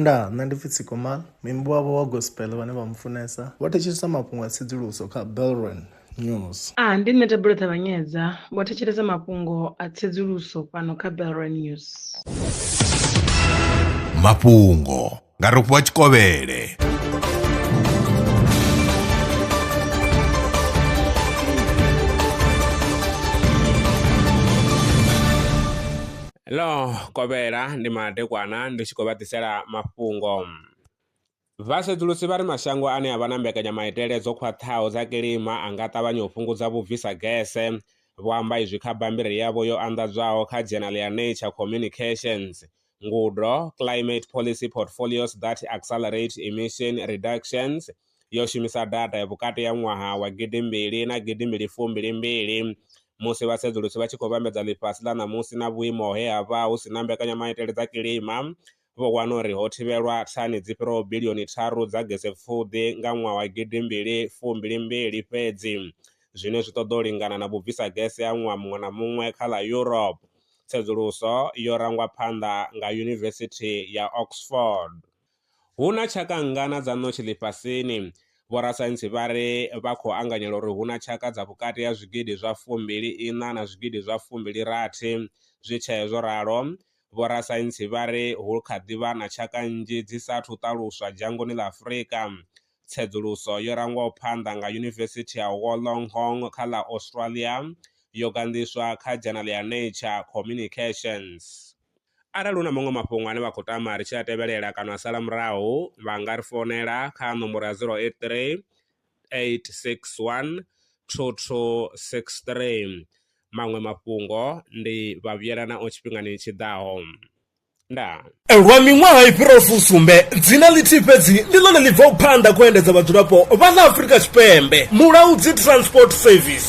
Ndaa, nṋe ndi pfi Tsikomal, muimbi wavho wa gospel vhane vha mu funesa vho thetshelesa mafhungo a tsedzuluso kha Belron News. A, ndi nṋe Thabelo Ṱavhanyedza, vho thetshelesa mafhungo a tsedzuluso fhano kha Belron News. Mafhungo nga Rofhiwa Tshikovhele. Ḽo kovhela ndi madekwana ndi tshi khou vha ḓisela mafhungo. Vhasedzulusi vha ri mashango ane a vha na mbekanyamaitele dzo khwaṱhaho dza kilima a nga ṱavhanya u fhungudza vhubvisa gese. Vho amba izwi kha bammbiri yavho yo anḓadzwaho kha dzhenali ya Nature Communications, Ngudo, Climate Policy Portfolios that Accelerate Emission Reductions yo shumisa data ya vhukati ha ṅwaha wa gidimbili na gidimbili fumbili mbili musi vhasedzulusi vha tshi khou vhambedza ḽifhasi ḽa ṋamusi na vhuimo he ha vha hu si na mbekanyamaitele dza kilima vho wana uri ho thivhelwa thani dzi fhiraho bilioni tharu dza gese pfuḓi nga ṅwaha wa gidimbili fumbili mbili fhedzi zwine zwi ṱoḓa u lingana na vhubvisa gese ha ṅwaha muṅwe na muṅwe kha ḽa Europe tsedzuluso yo rangwa phanḓa nga Yunivesithi ya Oxford. Hu na tshaka nngana dza ṋotshi ḽifhasini? Vhorasaintsi vha ri vha khou anganyela uri hu na tshaka dza vhukati ha zwigidi zwa fumbili iṋa na zwigidi zwa fumbili rathi. Zwi tshee zwo ralo, vhorasaintsi vha ri hu kha ḓi vha na tshaka nnzhi dzi sa athu ṱaluswa dzhangoni ḽa Afrika. Tsedzuluso yo rangwaho phanḓa nga Yunivesithi ya Wollongong kha ḽa Australia yo ganḓiswa kha dzhanale ya Nature Communications. Arali hu na maṅwe mafhungo ane vha khou tama ri tshi a tevhelela kana a sala murahu, vha nga ri founela kha nomboro ya 083 861 2263. Maṅwe mafhungo ndi vha vhuyela nao tshifhingani tshi ḓaho. Ndaa. Lwa miṅwaha i fhiraho fusumbe, dzina ḽithihi fhedzi ndi ḽone ḽi bvaho phanḓa kha u endedza vhadzulapo vha ḽa Afrika Tshipembe, Mulaudzi Transport Service.